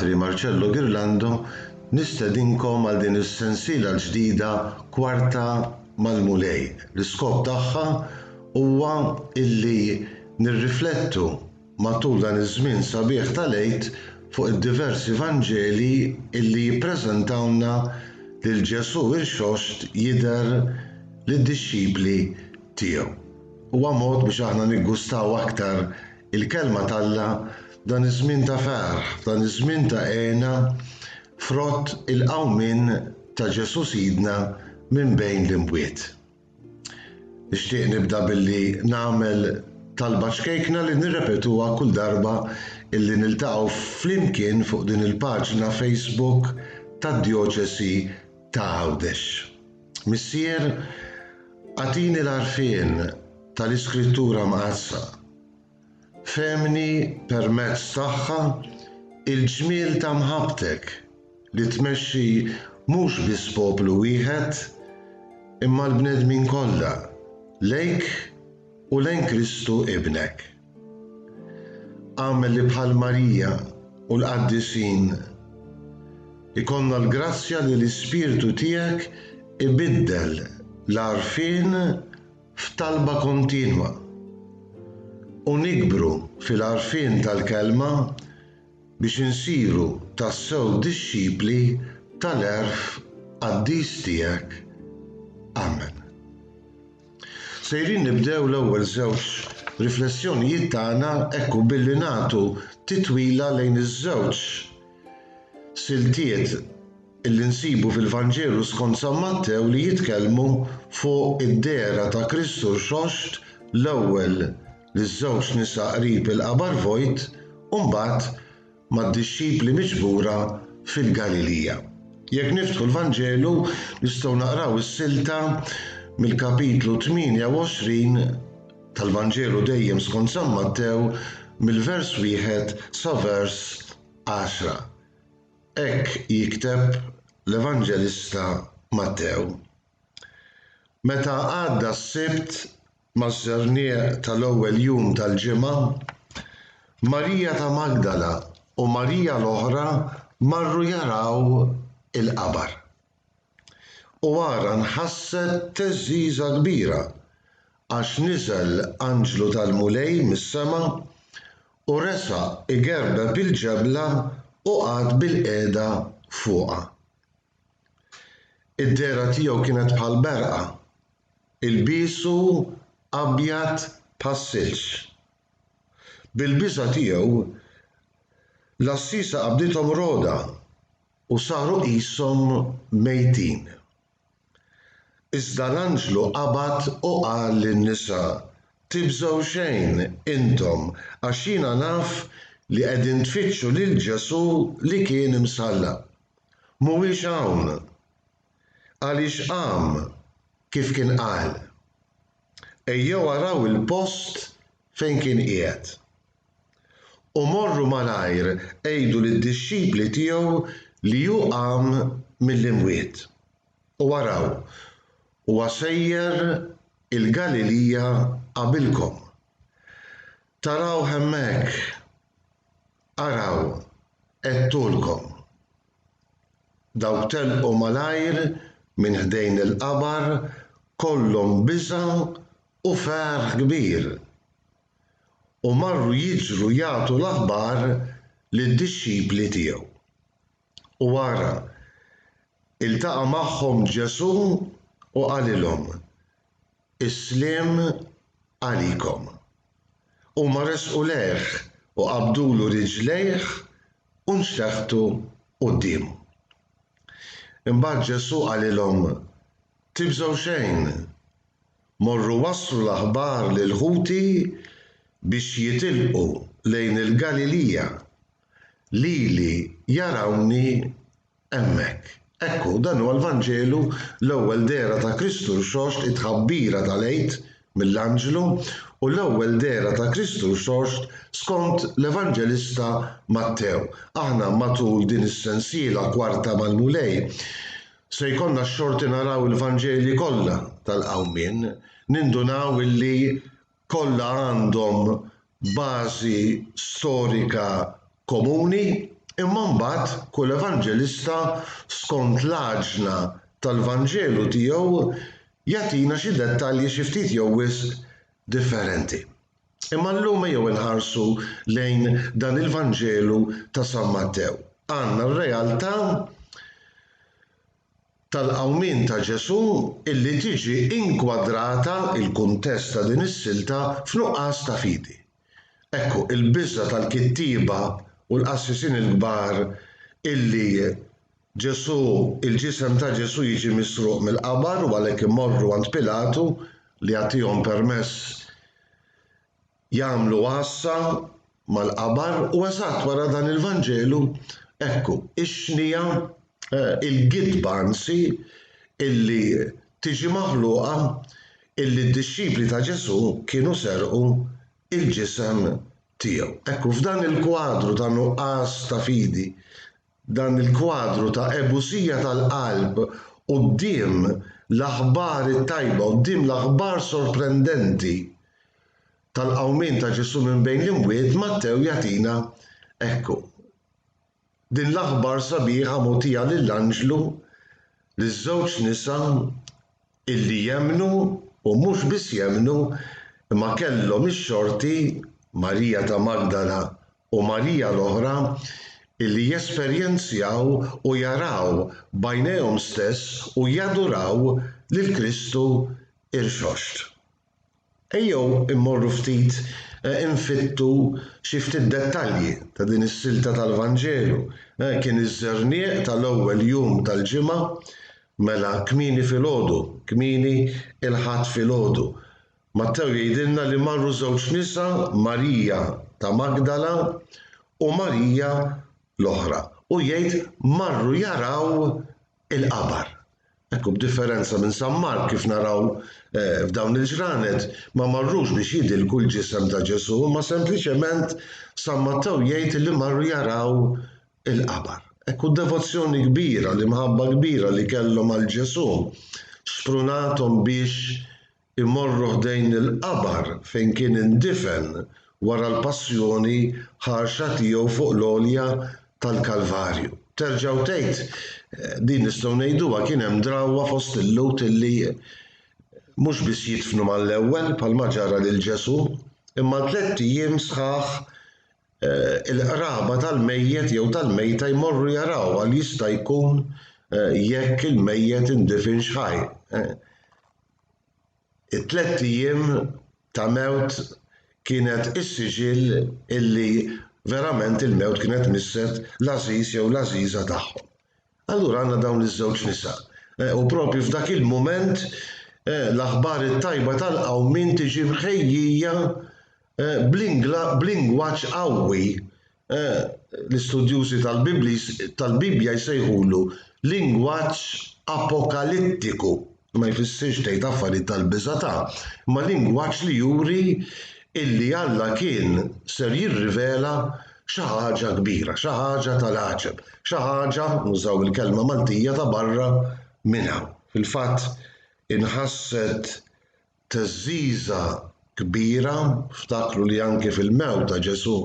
Patri Marcello Ghirlando nistedinkom għal din is-sensiela l-ġdida Kwarta mal-Mulej. L-iskop tagħha huwa illi nirriflettu matul dan iż-żmien sabiħ tal-Għid fuq id-diversi Vanġeli illi jippreżentawlna lil Ġesù irxoxt jidher lid-dixxipli tiegħu. Huwa mod biex aħna niggustaw aktar il-Kelma t'Alla f'dan iż-żmien ta' ferħ, f'dan iż-żmien ta' hena, frott il-qawmien ta' Ġesù Sidna minn bejn l-imwiet. Nixtieq nibda billi nagħmel talba ċkejkna li nirrepetuha kull darba illi niltaqgħu flimkien fuq din il-paġna Facebook tad-Djoċesi ta' Għawdex. Missier, agħtini l-għarfien tal-Iskrittura Mqaddsa. Fehmni permezz tagħha il-ġmiel ta' mħabbtek li tmexxi mhux biss poplu wieħed imma l-bnedmin kollha lejk u lejn Kristu Ibnek. Agħmel li bħal Marija u l-qaddisin ikollna l-grazzja li l-Ispirtu tiegħek ibiddel l-għarfien f'talba kontinwa, u nikbru fil-għarfien tal-Kelma biex insiru tassew dixxipli tal-għerf qaddis tiegħek. Amen. Sejrin nibdew l-ewwel żewġ riflessjonijiet tagħna hekk u billi nagħtu titwila lejn iż-żewġ Siltiet li nsibu fil-Vanġelu skont San Mattew li jitkellmu fuq id-dehra ta' Kristu Rxoxt l-ewwel liż-żewġ nisa qrib il-qabar vojt u mbagħad mad-dixxipli miġbura fil-Galilija. Jekk niftħu l-Vanġelu nistgħu naqraw is-silta mill-kapitlu 28 tal-Vanġelu dejjem skont San Mattew mill-vers wieħed sa vers għaxra. Hekk jikteb l-Evanġelista Mattew. Meta għadda s-Sibt maż-żernieq tal-ewwel jum tal-ġimgħa, Marija ta' Magdala u Marija l-oħra marru jaraw il-qabar. U ara nħasset theżżiża kbira, għax niżel anġlu tal-Mulej mis-sema u resaq igerbeb il-ġebla u qagħad bilqiegħda fuqha. Id-dehra tiegħu kienet bħal berqa, ilbiesu abjad bħas-silġ. Bil-biża' tiegħu, l-għassiesa qabdithom rogħda. u saru qishom mejtin. Iżda l-anġlu qabad u qal lin-nisa, Tibżgħu xejn, intom, għax jiena naf li qegħdin tfittxu lil Ġesù li kien imsallab. Mhuwiex hawn, għaliex qam, kif kien qal. Ejjew araw il-post fejn kien qiegħed. U morru malajr għidu lid-dixxipli tiegħu li hu qam mill-imwiet. U araw, huwa sejjer il-Galilija qabilkom. Tarawh hemmhekk. Araw, għedtulkom. Dawk telqu malajr minn ħdejn il-qabar kollhom biża' u ferħ kbir. u marru jiġru jagħtu l-aħbar lid-dixxipli tiegħu. U ara, iltaqa' magħhom Ġesù u qalilhom, Is-sliem għalikom. Huma resqu lejh u qabdulu riġlejh u nxteħtu quddiemu. Imbagħad Ġesù qalilhom, Tibżgħu xejn, Morru wasslu l-aħbar lil ħuti biex jitilqu lejn il-Galilija, lili jarawni hemmhekk. Hekk hu, dan huwa l-Vanġelu, l-ewwel dehra ta' Kristu Rxoxt, it-tħabbira tal-Għid mill-anġlu, u l-ewwel dehra ta' Kristu Rxoxt skont l-Evanġelista Mattew. Aħna matul din is-sensiela kwarta mal-Mulej, Se jkollna x-xorti naraw il-Vanġeli kollha tal-Qawmien, nindunaw illi kollha għandhom bażi storika komuni, imma mbagħad kull Evanġelista skont l-għaġna tal-Vanġelu tiegħu jagħtina xi dettalji xi ftit jew wisq differenti. Imma llum ejjew inħarsu lejn dan il-Vanġelu ta' San Mattew. Għandna r-realtà tal-qawmien ta' Ġesù illi tiġi inkwadrata, il-kuntest ta' din is-silta, f'nuqqas ta' fidi. Ekku, il-biża' tal-kittieba u l-qassisin il-kbar illi Ġesù, il-ġisem ta' Ġesù jiġi misruq mill-qabar u għalhekk imorru għand Pilatu li jagħtihom permess jagħmlu għassa mal-qabar u eżatt wara dan il-Vanġelu, ekku, ix-xnija, eh, il-gidba anzi, illi tiġi maħluqa illi d-dixxipli ta' Ġesù kienu serqu l-ġisem tiegħu. Ekku, f'dan il-kwadru ta' nuqqas ta' fidi, Dan il-kwadru ta' ebusija tal-qalb quddiem l-aħbar it-tajba, quddiem l-aħbar sorprendenti tal-qawmien ta' Ġesù minn bejn l-imwiet, Mattew jagħtina ekku. Din l-aħbar sabiħa mogħtija lill-anġlu, liż-żewġ nisa, illi jemmnu u mhux biss jemmnu imma kellhom ix-xorti, Marija ta' Magdala u Marija l-oħra, illi jesperjenzjaw u jaraw b'għajnejhom stess u jaduraw lil Kristu rxoxt. Ejjew immorru ftit infittu xi ftit dettalji ta' din is-silta tal-Vanġelu. Kien iż-żerniq tal-ewwel jum tal-ġimgħa, mela kmieni filgħodu, kmieni il-Ħadd filgħodu. Mattew jgħidilna li marru żewġ nisa, Marija ta' Magdala u Marija l-oħra, u jgħid marru jaraw il-qabar. Hekk hu b'differenza minn San Mark kif naraw f'dawn il-ġranet ma marrux biex jidilku l-ġisem ta' Ġesù imma sempliċement San Mattew jgħid li marru jaraw il-qabar. Hekk hu d-devozzjoni kbira, l-imħabba kbira li kellhom għal Ġesù xprunathom biex imorru ħdejn il-qabar fejn kien indifen wara l-passjoni ħarxa tiegħu fuq l-għolja tal-Kalvarju. Terġgħu tgħid, din nistgħu ngħiduha kien hemm drawwa fost il-Lhud illi mhux biss jidfnu mal-ewwel bħalma ġara lil Ġesù, imma tliet ijiem sħaħ il-qraba tal-mejjet jew tal-mejta jmorru jaraw għal jista' jkun jekk il-mejjet indifinx ħaj. it-tlett ijiem ta' mewt kienet is-siġill illi verament il-mewt kienet misset l-għażiż jew l-għażiża tagħhom. Allura għandna dawn iż-żewġ nisa. U proprju f'dak il-mument l-aħbar it-tajba tal-qawmien tiġi mħejjija b'lingwaġġ qawwi Eh, l-istudjużi tal-Bibbja jsejħulu lingwaġġ apokalittiku ma jfissirx tgħid affarijiet tal-biża' ta' ma lingwaġġ li juri illi Alla kien ser jirrivela xi ħaġa kbira, xi ħaġa tal-għaġeb, xi ħaġa, nużaw il-kelma Maltija, ta' barra minn hawn. Fil-fatt inħasset theżżiża kbira, ftakru li anki fil-mewt ta' Ġesù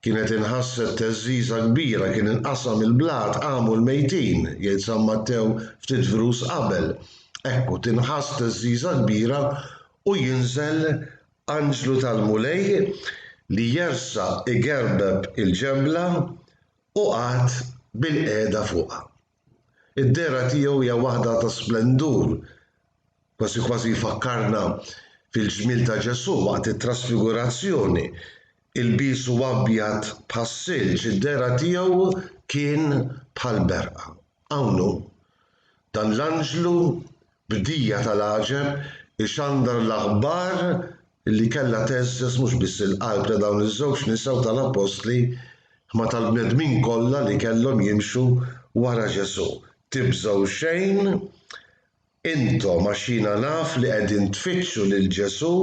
kienet inħasset theżżiża kbira, kien inqasam il-blat, qamu l-mejtin, jgħid San Mattew ftit vrus qabel. Ekku, tinħass theżżiża kbira u jinżel anġlu tal-Mulej li jersaq igerbeb il-ġebla u qagħad bilqiegħda fuqha. Id-dehra tiegħu hija waħda ta' splendur, kważi kważi jfakkarna fil-ġmiel ta' Ġesù waqt it-trasfigurazzjoni. Ilbiesu abjad bħas-silġ, id-dehra tiegħu kien bħall-berqa. Hawn hu, dan l-anġlu Bdija tal-għaġeb ixandar l-aħbar li kellha tgħeżżeż mhux biss il-qalb ta' dawn iż-żewġ nisa u tal-appostli imma tal-bnedmin kollha li kellhom jimxu wara Ġesù, Tibżgħu xejn intom għax jiena naf li qegħdin tfittxu lil Ġesù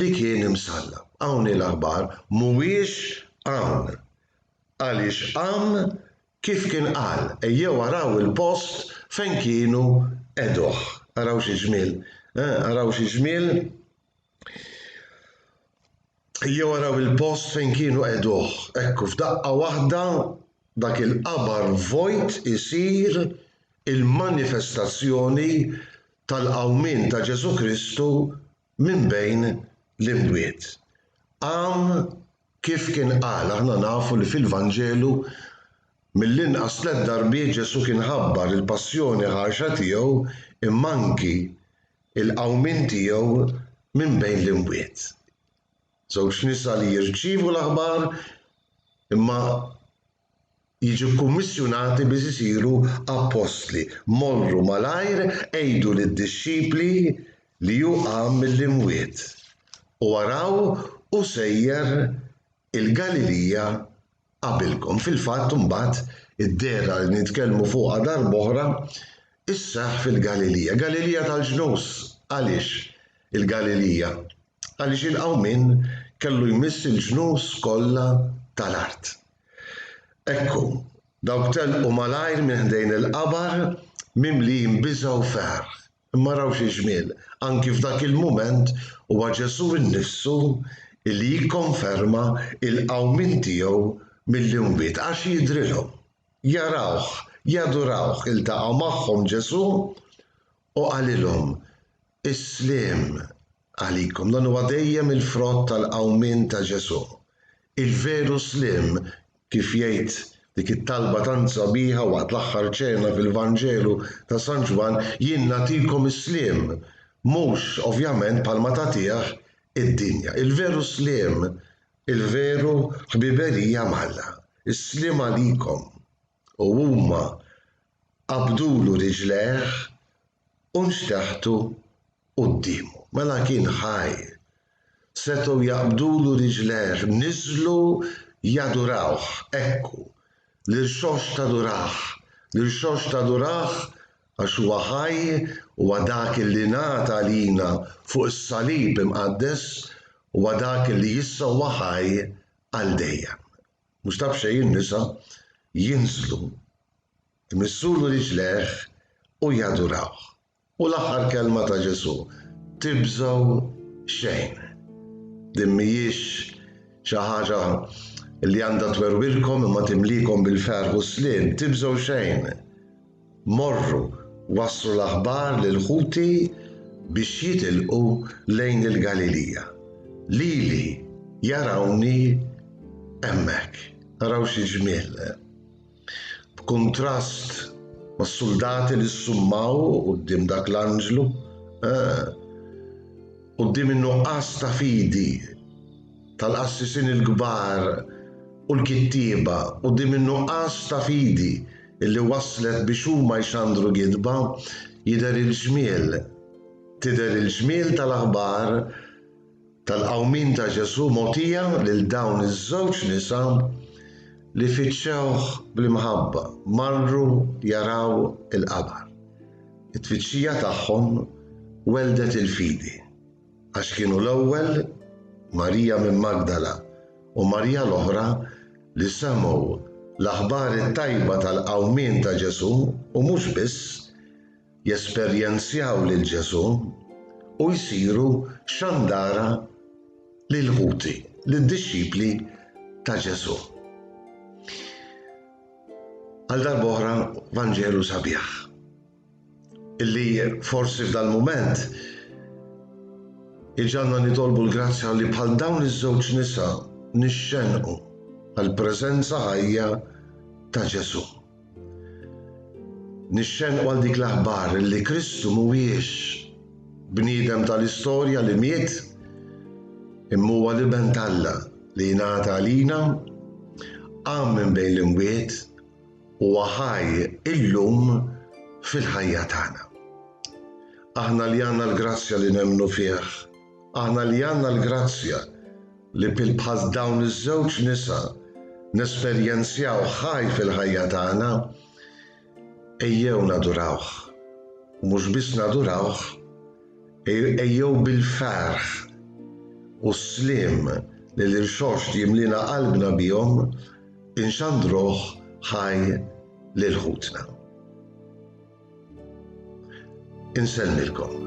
li kien imsallab. Hawn hi l-aħbar, mhuwiex hawn għaliex qam Kif kien qal, ejjew araw il-post fejn kienu qegħduh. Araw xi ġmiel, eħ, araw xi ġmiel. Ejjew araw il-post fejn kienu qegħduh. Ekku, f'daqqa waħda dak il-qabar vojt isir il-manifestazzjoni tal-qawmien ta' Ġesù Kristu minn bejn l-imwiet. Qam Kif kien qal, aħna nafu li fil-Vanġelu mill-inqas tliet darbiet Ġesù kien ħabbar il-passjoni ħarxa tiegħu imma anki l-qawmien tiegħu minn bejn l-imwiet. Żewġ nisa li jirċievu l-aħbar imma jiġu kkummissjunati biex isiru appostli, morru malajr għidu lid-dixxipli li hu qam mill-imwiet, u araw hu sejjer il-Galilija qabilkom. Fil-fatt imbagħad id-dehra li nitkellmu fuqha darb'oħra sseħħ fil-Galilija. Galilija tal-ġnus. Għaliex il-Galilija? Għaliex il-qawmien kellu jmiss il-ġnus kollha tal-art. Ekku, dawk telqu malajr minn ħdejn il-qabar mimlijin biża' u ferħ. Imma raw xi ġmiel, anki f'dak il-mument huwa Ġesù nnifsu li jikkonferma l-qawmien tiegħu mill-imwiet, għax jidhrilhom. Jarawh, jadurawh, iltaqa' magħhom Ġesù u qalilhom, Is-sliem għalikom. Dan huwa dejjem il-frott tal-qawmien ta' Ġesù. Il-veru sliem, kif jgħid dik it-talba tant sabiħa waqt l-Aħħar Ċena fil-Vanġelu ta' San Ġwann, Jien nagħtikom is-sliem, mhux, ovvjament, bħalma tagħtih id-dinja. Il-veru sliem, il-veru ħbiberija m'Alla. Is-sliem għalikom. u huma qabdulu riġlejh u nxteħtu quddiemu. Mela kien ħaj. Setgħu jaqbdulu riġlejh, niżlu jadurawh, ekku, l-irxoxt tadurah, l-irxoxt tadurah għax huwa ħaj, huwa dak li ngħata għalina fuq is-salib imqaddes, huwa dak li issa huwa ħaj għal dejjem. Mhux ta' b'xejn in-nisa jinżlu, imissulu riġlejh u jadurawh. U l-aħħar kelma ta' Ġesù, Tibżgħu xejn. Din m'hijiex xi ħaġa li għandha twerwirkom imma timlikom bil-ferħ u s-sliem, tibżgħu xejn. Morru, wasslu l-aħbar lil ħuti biex jitilqu lejn il-Galilija. Lili jarawni hemmhekk. Araw xi ġmiel! B'kuntrast mas-suldati li ssummaw quddiem dak l-anġlu, quddiem in-nuqqas ta' fidi, tal-qassisin il-kbar u l-kittieba quddiem in-nuqqas ta' fidi li wasslet biex huma jxandru gidba, jidher il-ġmiel, tidher il-ġmiel tal-aħbar tal-qawmien ta' Ġesù mogħtija lil dawn iż-żewġ nisa li fittxewh bl-imħabba, marru jaraw il-qabar. It-tfittxija tagħhom welldet il-fidi. Għax kienu l-ewwel Marija minn Magdala u Marija l-oħra li semgħu l-aħbar it-tajba tal-qawmien ta' Ġesù u mhux biss, jesperjenzjaw lil Ġesù u jsiru xandara lill-ħuti, lid-dixxipli ta' Ġesù. Għal darb'oħra Vanġelu sabiħ. Illi forsi f'dal-mument iġ'għandna nitolbu l-grazzja li bħal dawn iż-żewġ nisa nixxennqu għall-preżenza ħajja ta' Ġesù. Nixxennqu għal dik l-aħbar illi Kristu mhuwiex bniedem tal-istorja li miet, imma huwa l-Iben t'Alla li jingħata għalina, qam minn bejn l-imwiet, Huwa ħaj illum fil-ħajja tagħna. Aħna li għandna l-grazzja li nemmnu fih, aħna li għandna l-grazzja li bħal dawn iż-żewġ nisa nesperjenzjawh ħaj fil-ħajja tagħna, ejjew nadurawh, u mhux biss nadurawh, Ejjew bil-ferħ u s-sliem li l-Irxoxt jimliena qalbna bihom inxandruh ħaj lil ħutna. Insellmilkom.